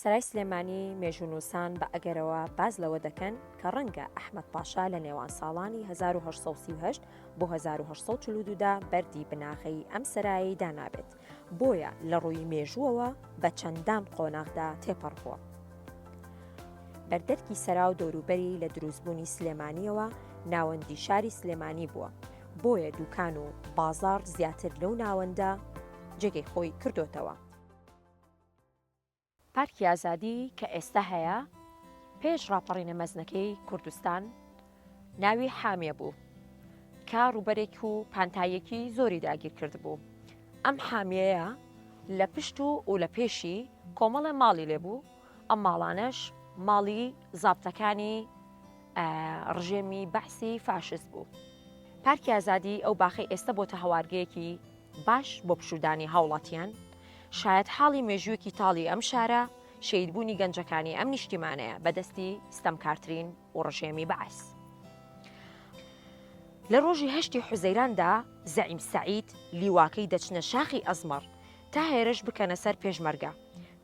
سەرای سلێمانی مێژوونووسان بە ئەگەرەوە باز لەوە دەکەن کە ڕەنگە ئەحمد پاشا لە نێوان ساڵانی 1938 بۆ 1940دا بەری بناغەی ئەم سەرایی دانابێت بۆیە لە ڕووی مێژووەوە بە چەندان قۆناغدا تێپەڕ بووە. بەردەرکی سەرا و دەوروبەری لە دروستبوونی سلێمانیەوە ناوەندی شاری سلێمانی بووە بۆیە دوکان و بازاڕ زیاتر لەو ناوەندە جێگەی خۆی کردۆتەوە. پارکی ئازادی کە ئێستا هەیە پێش ڕاپەڕینە مەزنەکەی کوردستان ناوی حامیە بوو کە ڕووبەرێک و پانتاییەکی زۆری داگیر کردبوو ئەم حامیەیە لە پشت و و لە پێشی کۆمەڵە ماڵی لێبوو ئەم ماڵانەش ماڵی زابتەکانی ڕژێمی بەعسی فاشست بوو. پارکی ئازادی ئەو باخەی ئێستە بۆتە هەوارگەیەکی باش بۆ پشودانی هاوڵاتیان، شایەت حاڵی مێژوویەکی تاڵی ئەم شارە، شەیدبوونی گەنجەکانی ئەم نیشتیمانەیە بەدەستی ستەمکارترین و ڕژێمی بەعس. لە ڕۆژی هەشتی حوزەیراندا زەعیم سەعید لیواکەی دەچنە شاخی ئەزمەڕ تا هێرش بکەنە سەر پێشمەرگە،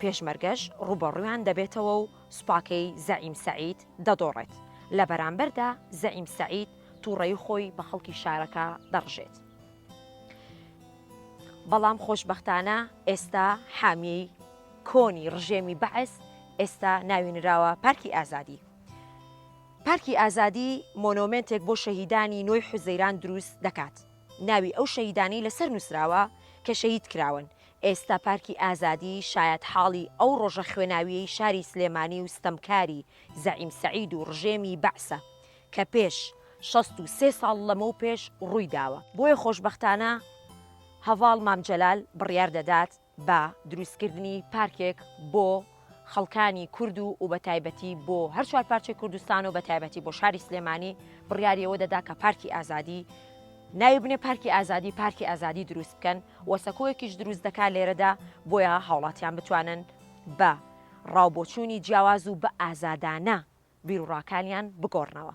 پێشمەرگەش ڕووبەڕوویان دەبێتەوە و سوپاکەی زەعیم سەعید دەدۆڕێت، لە بەرامبەردا زەعیم سەعید توڕەیی خۆی بە خەڵکی شارەکە دەڕژێت. بەڵام خۆشبەختانە ئێستا حامیی کۆنی ڕژێمی بەعس ئێستا ناوی نراوە پارکی ئازادی. پارکی ئازادی مۆنۆمێنتێک بۆ شەهیدانی نۆی حوزەیران دروست دەکات ناوی ئەو شەهیدانەی لەسەر نوسراوە کە شەهید کراون، ئێستا پارکی ئازادی شایەتحاڵی ئەو ڕۆژە خوێناویەی شاری سلێمانی و ستەمکاری زەعیم سەعید و ڕژێمی بەعسە کە پێش شەست و سێ ساڵ لەمەو پێش ڕووی داوە. بۆیە خۆشبەختانە هەڤاڵ مام جەلال بڕیار دەدات بە دروستکردنی پارکێک بۆ خەڵکانی کورد و و بەتایبەتی بۆ هەر چوار پارچەی کوردستان و بەتایبەتی بۆ شاری سلێمانی بڕیاریەوە دەدا کە پارکی ئازادی ناوی بنێ پارکی ئازادی پارکی ئازادی دروست بکەن و سەکۆیەکیش دروست دەکات لێرەدا بۆیە هاوڵاتیان بتوانن بە ڕاوبۆچوونی جیاواز و بە ئازادانە بیروڕاکانیان بگۆڕنەوە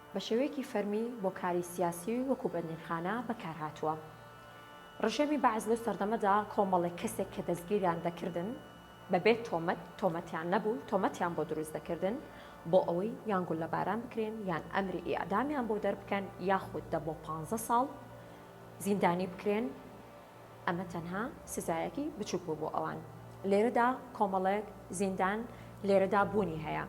بە شێوەیەکی فەرمی بۆ کاری سیاسی وەکوو بەندینخانە بەکار هاتووە. ڕژێمی بەعس لەو سەردەمەدا کۆمەڵێک کەسێک کە دەستگیریان دەکردن بە بێ تۆمەت، تۆمەتیان نەبوو، تۆمەتیان بۆ دروست دەکردن بۆ ئەوەی یان گوللەباران بکرێن یان ئەمری ئیعدامیان بۆ دەربکەن یاخود دە بۆ پانزە ساڵ زیندانی بکرێن. ئەمە تەنها سزایەکی بچوک بوو بۆ ئەوان. لێرەدا کۆمەڵێک زیندان لێرەدا بوونی هەیە.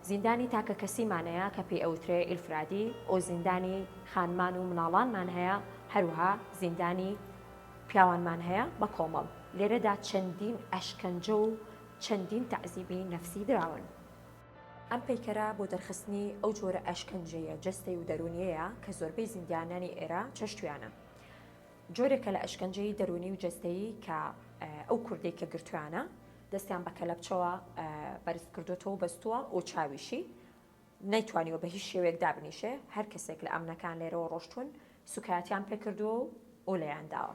زیندانی تاکەکەسیمانەیە کە پێی ئەوترێ ئیلفرادی، ئۆ زیندانی خانمان و مناڵانمان هەیە، هەروەها زیندانی پیاوانمان هەیە بە کۆمەڵ. لێرەدا چەندین ئەشکەنجە و چەندین تەعزیبی نەفسی دراون. ئەم پەیکەرە بۆ دەرخستنی ئەو جۆرە ئەشکەنجەیە جەستەی و دەروونیەیە کە زۆربەی زیندانانی ئێرە چەشتویانە. جۆرێکە لە ئەشکەنجەی دەروونی و جەستەیی کە ئەو کوردەی کە گرتوویانە دەستیان بە کەلەپچەوە بەرز کردۆتەوە و بەستووە و چاویشی نەیتوانیوە بە هیچ شێوەیەک دابنیشێ، هەر کەسێک لە ئەمنەکان لێرەوە ڕۆشتوون سووکایەتیان پێ کردووە و لێیان داوە.